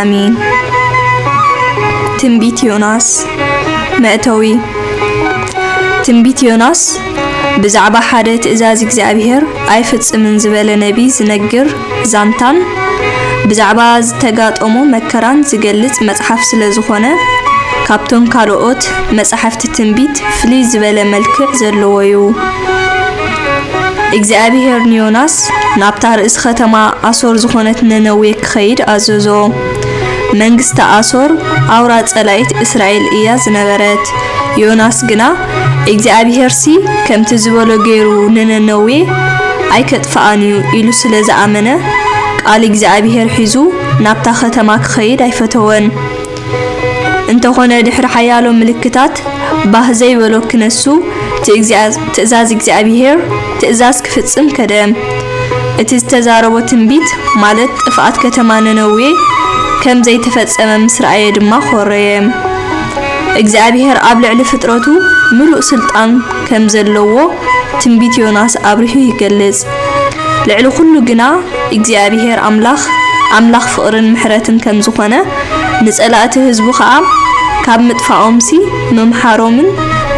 ኣሜን። ትንቢት ዮናስ መእተዊ ትንቢት ዮናስ ብዛዕባ ሓደ ትእዛዝ እግዚኣብሔር ኣይፍጽምን ዝበለ ነቢ ዝነግር ዛንታን ብዛዕባ ዝተጋጠሞ መከራን ዝገልጽ መጽሓፍ ስለ ዝኾነ ካብቶም ካልኦት መጻሕፍቲ ትንቢት ፍልይ ዝበለ መልክዕ ዘለዎ እዩ። እግዚኣብሄር ንዮናስ ናብታ ርእሲ ኸተማ ኣሶር ዝዀነት ነነዌ ኪኸይድ ኣዘዞ። መንግስቲ ኣሶር ኣውራ ጸላኢት እስራኤል እያ ዝነበረት፣ ዮናስ ግና እግዚኣብሄርሲ ከምቲ ዝበሎ ገይሩ ንነነዌ ኣይኬጥፍኣን እዩ ኢሉ ስለ ዝኣመነ፣ ቃል እግዚኣብሄር ሒዙ ናብታ ኸተማ ኪኸይድ ኣይፈተወን። እንተኾነ ድሕሪ ሓያሎ ምልክታት ባህ ዘይበሎ ክነሱ ትእዛዝ እግዚኣብሄር ትእዛዝ ክፍጽም ከደ። እቲ ዝተዛረቦ ትንቢት ማለት ጥፍኣት ከተማ ነነዌ ከም ዘይተፈጸመ ምስ ረኣየ ድማ ኾረየ። እግዚኣብሄር ኣብ ልዕሊ ፍጥረቱ ምሉእ ስልጣን ከም ዘለዎ ትንቢት ዮናስ ኣብሪሁ ይገልጽ። ልዕሊ ኹሉ ግና እግዚኣብሄር ኣምላኽ ኣምላኽ ፍቕርን ምሕረትን ከም ዝዀነ፣ ንጸላእቲ ህዝቡ ኸኣ ካብ ምጥፋኦምሲ ምምሓሮምን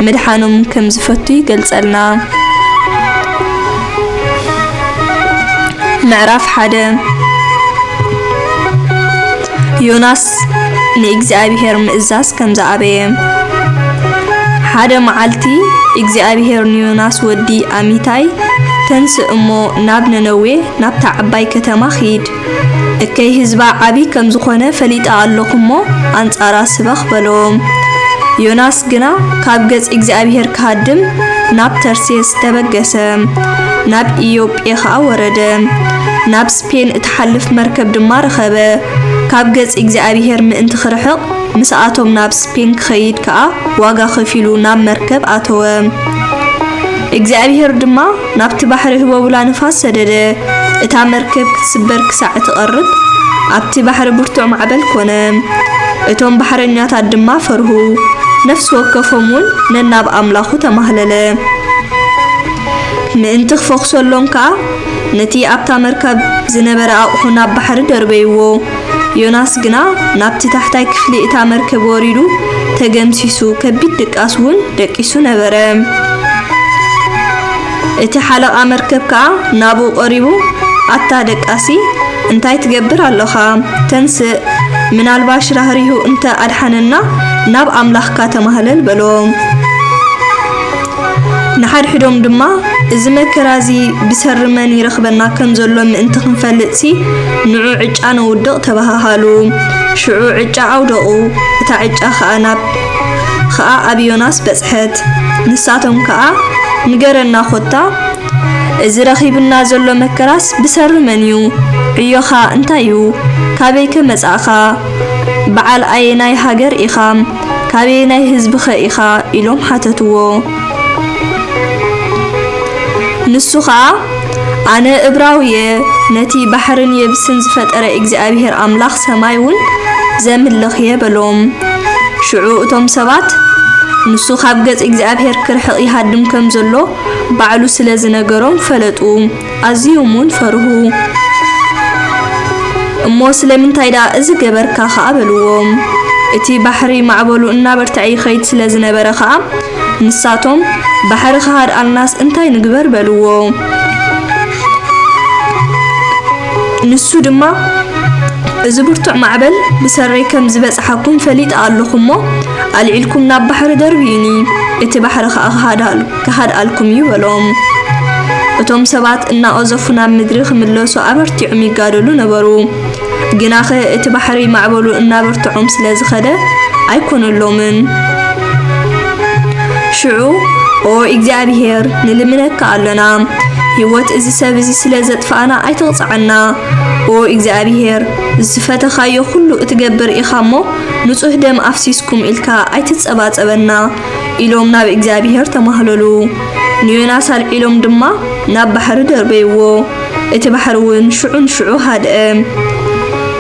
ምድሓኖምን ከም ዝፈቱ ይገልጸልና። ምዕራፍ ሓደ ዮናስ ንእግዚኣብሄር ምእዛዝ ከም ዝኣበየ። ሓደ መዓልቲ እግዚኣብሄር ንዮናስ ወዲ ኣሚታይ፣ ተንስእ እሞ ናብ ነነዌ ናብታ ዓባይ ከተማ ኺድ፣ እከይ ህዝባ ዓብዪ ከም ዝዀነ ፈሊጠ ኣሎኹ እሞ፣ ኣንጻራ ስበኽ በሎ። ዮናስ ግና ካብ ገጽ እግዚኣብሄር ክሃድም ናብ ተርሴስ ተበገሰ፣ ናብ ኢዮጴ ኸኣ ወረደ። ፔል እትሓልፍ መርከብ ድማ ረኸበ፣ ካብ ገጽ እግዚኣብሄር ምእንቲ ኺርሕቕ፣ ምስኣቶም ናብ ስፔን ኪኸይድ ከኣ ዋጋ ኸፊሉ ናብ መርከብ ኣተወ። እግዚኣብሄር ድማ ናብቲ ባሕሪ ህቦብላ ንፋስ ሰደደ፣ እታ መርከብ ክትስበር ክሳዕ እትቐርብ፣ ኣብቲ ባሕሪ ብርቱዕ ማዕበል ኰነ። እቶም ባሕረኛታት ድማ ፈርሁ፣ ነፍሲ ወከፎም እውን ነናብ ኣምላኹ ተማህለለ። ምእንቲ ኺፈዅሰሎም ከኣ፣ ነቲ ኣብታ መርከብ ዝነበረ ኣቕሑ ናብ ባሕሪ ደርበይዎ። ዮናስ ግና ናብቲ ታሕታይ ክፍሊ እታ መርከብ ወሪዱ ተገምሲሱ፣ ከቢድ ድቃስ እውን ደቂሱ ነበረ። እቲ ሓለቓ መርከብ ከኣ ናብኡ ቀሪቡ፣ ኣታ ደቃሲ፣ እንታይ ትገብር ኣሎኻ? ተንስእ፣ ምናልባሽ ራህሪሁ እንተ ኣድሓነና ናብ ኣምላኽካ ተማህለል በሎ። ንሓድሕዶም ድማ እዚ መከራ እዚ ብሰሪ መን ይረኽበና ከም ዘሎ ምእንቲ ክንፈልጥሲ ንዑ ዕጫ ነውድቕ ተበሃሃሉ። ሽዑ ዕጫ ኣውደቑ፣ እታ ዕጫ ኸኣ ናብ ኸኣ ኣብ ዮናስ በጽሐት። ንሳቶም ከኣ ንገረና ኮታ እዚ ረኺብና ዘሎ መከራስ ብሰሪ መን እዩ? ዕዮኻ እንታይ እዩ? ካበይከ መጻእካ? በዓል ኣየናይ ሃገር ኢኻ? ካበየናይ ህዝቢኸ ኢኻ? ኢሎም ሓተትዎ። ንሱ ኸኣ፣ ኣነ እብራዊ'የ፣ ነቲ ባሕርን የብስን ዝፈጠረ እግዚኣብሄር ኣምላኽ ሰማይ'ውን ዘምልኽ'የ በሎም። ሽዑ እቶም ሰባት፣ ንሱ ካብ ገጽ እግዚኣብሄር ኪርሕቕ ይሃድም ከም ዘሎ ባዕሉ ስለ ዝነገሮም ፈለጡ። ኣዝዮም ውን ፈርሁ። እሞ ስለምንታይ ደኣ እዚ ገበርካ ከኣ በልዎም። እቲ ባሕሪ ማዕበሉ እናበርተዐ ይኸይድ ስለ ዝነበረ ከኣ ንሳቶም ባሕሪ ክሃድኣልናስ እንታይ ንግበር በልዎ። ንሱ ድማ እዚ ብርቱዕ ማዕበል ብሰረይ ከም ዝበጽሓኩም ፈሊጠ ኣሎኹ እሞ ኣልዒልኩም ናብ ባሕሪ ደርብዩኒ እቲ ባሕሪ ከኣ ክሃድኣልኩም። ክሃድኣልኩም እዩ በሎም። እቶም ሰባት እናቐዘፉ ናብ ምድሪ ክምለሱ ኣበርቲዖም ይጋደሉ ነበሩ። ግናኸ እቲ ባሕሪ ማዕበሉ እናበርትዖም ስለ ዝኸደ ኣይኰነሎምን። ሽዑ፣ ኦ እግዚኣብሄር፣ ንልምነካ ኣሎና፣ ህይወት እዚ ሰብ እዚ ስለ ዘጥፋእና ኣይትቕጽዓና። ኦ እግዚኣብሄር፣ ዝፈተኻዮ ዅሉ እትገብር ኢኻ እሞ፣ ንጹህ ደም ኣፍሲስኩም ኢልካ ኣይትጸባጸበና። ኢሎም ናብ እግዚኣብሄር ተማህለሉ። ንዮናስ ኣልዒሎም ድማ ናብ ባሕሪ ደርበይዎ፣ እቲ ባሕሪ እውን ሽዑ ንሽዑ ሃድአ።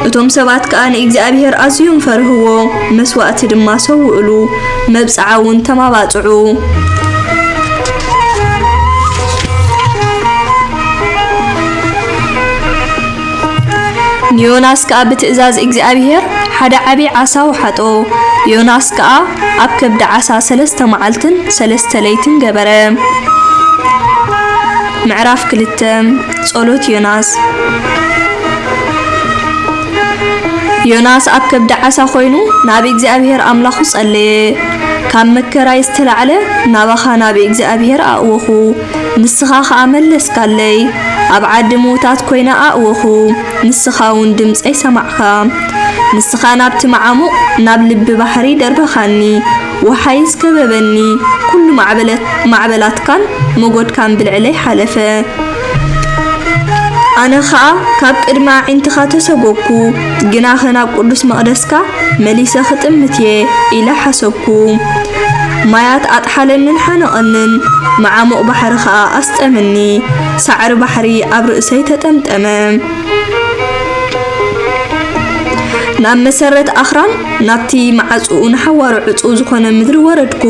እቶም ሰባት ከኣ ንእግዚኣብሄር ኣዝዮም ፈርህዎ፣ መስዋእቲ ድማ ሰውእሉ፣ መብጽዓ እውን ተማባጽዑ። ንዮናስ ከኣ ብትእዛዝ እግዚኣብሄር ሓደ ዓቢይ ዓሣ ወሓጦ፣ ዮናስ ከኣ ኣብ ከብዲ ዓሣ ሠለስተ መዓልትን ሠለስተ ለይትን ገበረ። ምዕራፍ ክልተ ጸሎት ዮናስ ዮናስ ኣብ ከብዲ ዓሣ ኮይኑ ናብ እግዚኣብሄር ኣምላኹ ጸለየ። ካብ መከራይ ዝተላዕለ ናባኻ ናብ እግዚኣብሄር ኣእወኹ፣ ንስኻ ኸኣ መለስካለይ፣ ኣብ ዓዲ ምዉታት ኰይነ ኣእወኹ፣ ንስኻውን ድምጸይ ሰማዕካ። ንስኻ ናብቲ መዓሙቕ፣ ናብ ልቢ ባሕሪ ደርበኻኒ፣ ወሓይዝ ከበበኒ፣ ኵሉ ማዕበላትካን መጐድካን ብልዕለይ ሓለፈ። ኣነ ኸኣ ካብ ቅድሚ ኣዒንትኻ ተሰጐግኩ። ግናኸ ናብ ቅዱስ መቕደስካ መሊሰ ኽጥምት እየ ኢለ ሓሰብኩ። ማያት ኣጥሓለንን ሓነቐንን፣ መዓሙቕ ባሕሪ ኸኣ ኣስጠመኒ። ሳዕሪ ባሕሪ ኣብ ርእሰይ ተጠምጠመ። ናብ መሰረት ኣኽራን፣ ናብቲ መዓጽኡ ንሓዋሩ ዕጹው ዝዀነ ምድሪ ወረድኩ።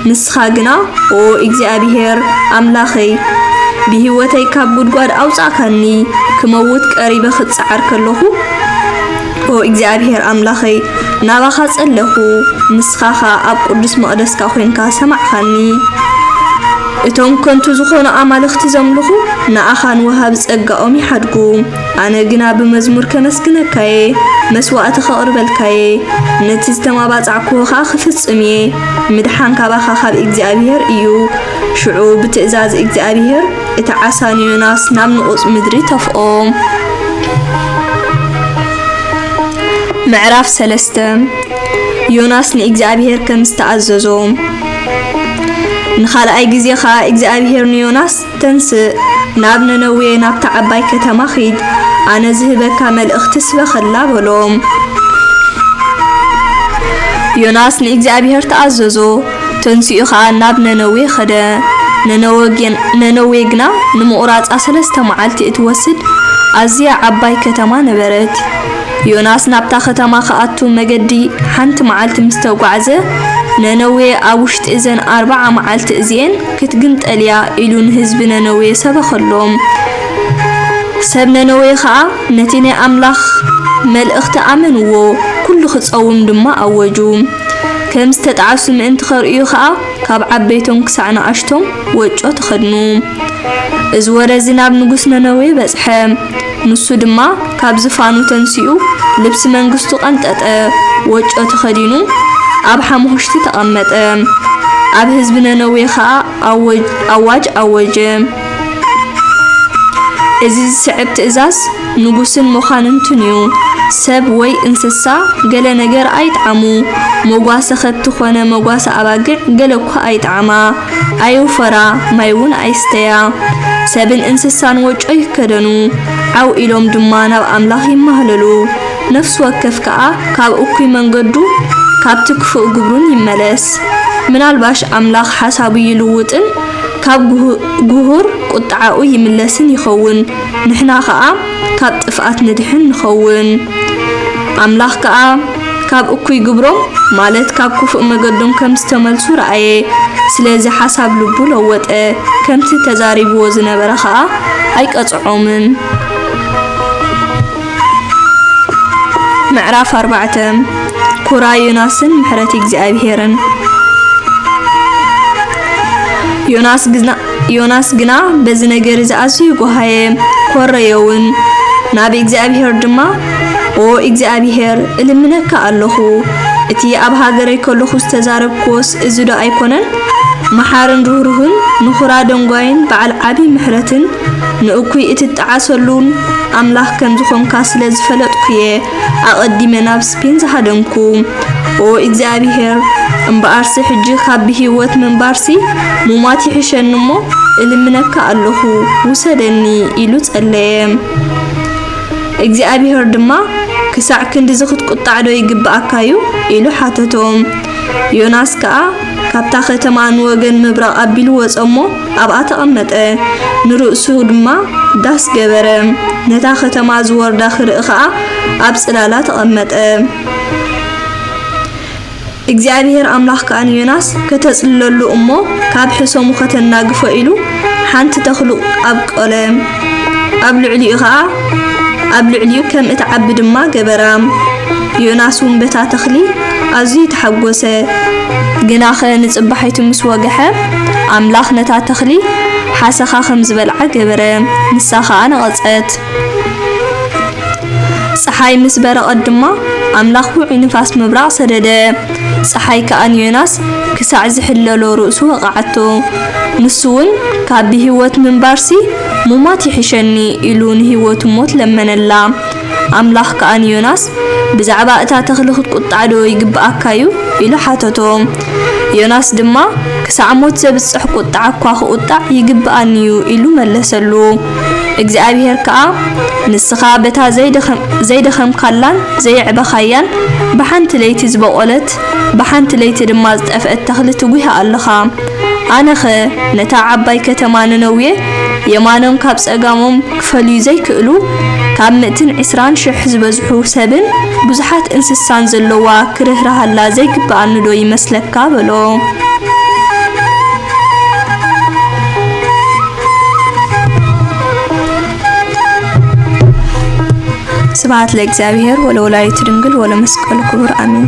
ንስኻ ግና ኦ እግዚኣብሄር ኣምላኸይ፣ ብህይወተይ ካብ ጕድጓድ ኣውጻእካኒ፣ ክመውት ቀሪበ ኽጽዓር ከለኹ፣ ኦ እግዚኣብሄር ኣምላኸይ፣ ናባኻ ጸለኹ፣ ንስኻ ኸኣ ኣብ ቅዱስ መቕደስካ ዄንካ ሰማዕካኒ። እቶም ከንቱ ዝዀኑ ኣማልኽቲ ዘምልኹ፣ ንኣኻን ወሃቢ ጸጋኦም ይሓድጉ። ኣነ ግና ብመዝሙር ከመስግነካ እየ፣ መስዋእቲ ከቕርበልካ እየ፣ ነቲ ዝተማባጻዕኩዎ ኸኣ ክፍጽም እየ። ምድሓን ካባኻ ካብ እግዚኣብሄር እዩ። ሽዑ ብትእዛዝ እግዚኣብሄር እቲ ዓሳ ንዮናስ ናብ ንቑጽ ምድሪ ተፍኦ። ምዕራፍ ሰለስተ ዮናስ ንእግዚኣብሄር ከም ዝተኣዘዞ ንኻልኣይ ግዜ ኸኣ እግዚኣብሄር ንዮናስ ተንሥእ፣ ናብ ነነዌ ናብታ ዓባይ ከተማ ኺድ፣ ኣነ ዝህበካ መልእኽቲ ስበኸላ በሎ። ዮናስ ንእግዚኣብሔር ተኣዘዞ፣ ተንሲኡ ኸኣ ናብ ነነዌ ኸደ። ነነዌ ግና ንምቝራጻ ሠለስተ መዓልቲ እትወስድ ኣዝያ ዓባይ ከተማ ነበረት። ዮናስ ናብታ ኸተማ ኽኣቱ መገዲ ሓንቲ መዓልቲ ምስ ተጓዕዘ፣ ነነዌ ኣብ ውሽጢ እዘን ኣርብዓ መዓልቲ እዚኤን ክትግምጠል እያ ኢሉ ንህዝቢ ነነዌ ሰበኸሎም። ሰብ ነነዌ ኸኣ ነቲ ናይ ኣምላኽ መልእኽቲ ኣመንዎ፣ ኵሉ ኺጸውም ድማ ኣወጁ። ከም ዝተጣዕሱ ምእንቲ ኼርእዩ ኸኣ፣ ካብ ዓበይቶም ክሳዕ ንኣሽቶም ወጮ ተኸድኑ። እዚ ወረ እዚ ናብ ንጉስ ነነዌ በጽሐ። ንሱ ድማ ካብ ዝፋኑ ተንሲኡ ልብሲ መንግስቱ ቀንጠጠ፣ ወጮ ተኸዲኑ ኣብ ሓሙኹሽቲ ተቐመጠ። ኣብ ህዝቢ ነነዌ ኸኣ ኣዋጅ ኣወጀ። እዚ ዝስዕብ ትእዛዝ ንጉስን መኳንንቱን እዩ፣ ሰብ ወይ እንስሳ ገለ ነገር ኣይጥዓሙ፣ መጓሰ ኸብቲ ዀነ መጓሰ ኣባግዕ ገለ እኳ ኣይጥዓማ። ኣይውፈራ፣ ማይ እውን ኣይስተያ፣ ሰብን እንስሳን ወጮ ይከደኑ፣ ዓው ኢሎም ድማ ናብ ኣምላኽ ይማህለሉ፣ ነፍሲ ወከፍ ከኣ ካብ እኩይ መንገዱ ካብቲ ክፉእ ግብሩን ይመለስ። ምናልባሽ ኣምላኽ ሓሳቡ ይልውጥን ካብ ግሁር ቁጥዓኡ ይምለስን ይኸውን፣ ንሕና ከኣ ካብ ጥፍኣት ንድሕን ንኸውን። ኣምላኽ ከኣ። ካብ እኩይ ግብሮም ማለት ካብ ክፉእ መገዶም ከም ዝተመልሱ ረኣየ። ስለዚ ሓሳብ ልቡ ለወጠ፣ ከምቲ ተዛሪብዎ ዝነበረ ኸኣ ኣይቀጽዖምን። ምዕራፍ ኣርባዕተ ኩራ ዮናስን ምሕረት እግዚኣብሄርን ዮናስ ግና ዮናስ ግና በዚ ነገር እዚ ኣዝዩ ጐሃየ፣ ኰረየውን። ናብ እግዚኣብሄር ድማ፣ ኦ እግዚኣብሄር፣ እልምነካ ኣሎኹ፣ እቲ ኣብ ሃገረይ ከሎኹ ዝተዛረብክዎስ እዚዶ ኣይኰነን? መሓርን ርህሩህን፣ ንዅራ ደንጓይን በዓል ዓብዪ ምሕረትን፣ ንእኩይ እትጠዓሰሉን ኣምላኽ ከም ዝዀንካ ስለ ዝፈለጥኩ እየ። ኣቐዲመ ናብ ስፔን ዝሃደምኩ። ኦ እግዚኣብሄር! እምበኣርሲ ሕጂ ካብ ብህይወት ምንባርሲ ሙማት ይሕሸኒ እሞ እልምነካ ኣለኹ ውሰደኒ ኢሉ ጸለየ። እግዚኣብሄር ድማ ክሳዕ ክንድዚ ክትቁጣዕ ዶ ይግብኣካ እዩ? ኢሉ ሓተቶ። ዮናስ ከኣ ካብታ ከተማ ንወገን ምብራቕ ኣቢሉ ወጸ እሞ ኣብኣ ተቐመጠ፣ ንርእሱ ድማ ዳስ ገበረ፣ ነታ ኸተማ ዝወርዳ ኽርኢ ኸኣ ኣብ ጽላላ ተቐመጠ። እግዚኣብሄር ኣምላኽ ከኣ ንዮናስ ከተጽልለሉ እሞ ካብ ሕሰሙ ኸተናግፎ ኢሉ ሓንቲ ተኽሉ ኣብቈለ። ኣብ ልዕሊኡ ኸኣ ኣብ ልዕሊኡ ከም እትዓቢ ድማ ገበራ። ዮናስ እውን በታ ተኽሊ ኣዝዩ ተሓጐሰ። ግናኸ ንጽባሒቱ ምስ ወግሐ፣ ኣምላኽ ነታ ተኽሊ ሓሰኻ ኸም ዝበልዓ ገበረ፣ ንሳ ኸኣ ነቐጸት። ጸሓይ ምስ በረቐት ድማ ኣምላኽ ውዑይ ንፋስ ምብራቕ ሰደደ፣ ጸሓይ ከኣ ንዮናስ ክሳዕ ዚሕለሎ ርእሱ ወቕዓቶ። ንሱ ውን ካብ ብሂወት ምንባርሲ ሙማት ይሕሸኒ ኢሉ ንሂወቱ ሞት ለመነላ። ኣምላኽ ከኣ ንዮናስ ብዛዕባ እታ ተኽሊ ክትቁጣዕ ዶ ይግብኣካ ዩ? ኢሉ ሓተቶ። ዮናስ ድማ ክሳዕ ሞት ዘብጽሕ ቁጥዓ እኳ ክቁጣዕ ይግብኣኒ ዩ ኢሉ መለሰሉ። እግዚኣብሄር ከኣ ንስኻ በታ ዘይደኸምካላን ዘየዕበኻያን ብሓንቲ ለይቲ ዝበቖለት ብሓንቲ ለይቲ ድማ ዝጠፍአት ተኽሊ ትጒህ ኣለኻ። ኣነኸ ነታ ዓባይ ከተማ ነነዌ የማኖም ካብ ጸጋሞም ክፈልዩ ዘይክእሉ ካብ ምእትን ዕስራን ሽሕ ዝበዝሑ ሰብን ብዙሓት እንስሳን ዘሎዋ ክርህርሃላ ዘይግብኣኒዶ ይመስለካ? በሎ። ስብሐት ለእግዚኣብሔር ወለወላዲቱ ድንግል ወለመስቀሉ ክቡር አሜን።